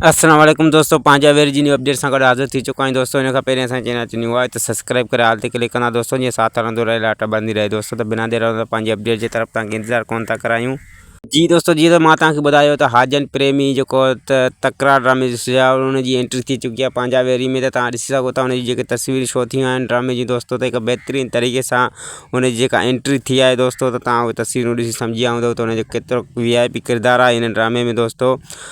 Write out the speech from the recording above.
السلام عليڪم دوستو پنهنجي اوير جي نيو اپڊيٽ سان گڏ حاضر ٿي چڪو آهيان دوستو ان کان پهرين اسان چينل تي نيو آهي ته سبسڪرائب ڪري آل تي ڪلڪ ڪندا دوستو جيئن ساٿ هلندو رهي لاٽ ٻرندي رهي دوستو ته بنا دير لاء پنهنجي اپڊيٽ جي طرف تان انتظار ڪون ٿا ڪرايون جي دوستو جيئن ته مان توهان کي ٻڌايو ته حاجن پريمي جيڪو ته تڪرار ڊرامي جو سجايو ان جي انٽري ٿي چڪي آهي پنهنجا ويري ۾ ته توهان ڏسي سگهو ٿا ان جي جيڪي تصويرون شو ٿيون آهن ڊرامي جي دوستو ته هڪ بهترين طريقي سان ان جي جيڪا انٽري ٿي آهي دوستو ته توهان تصويرون ڏسي سمجهي ويا هوندو ته ان جو ڪيترو وي آء پي ڪردار آهي ان ڊرامي ۾ دوستو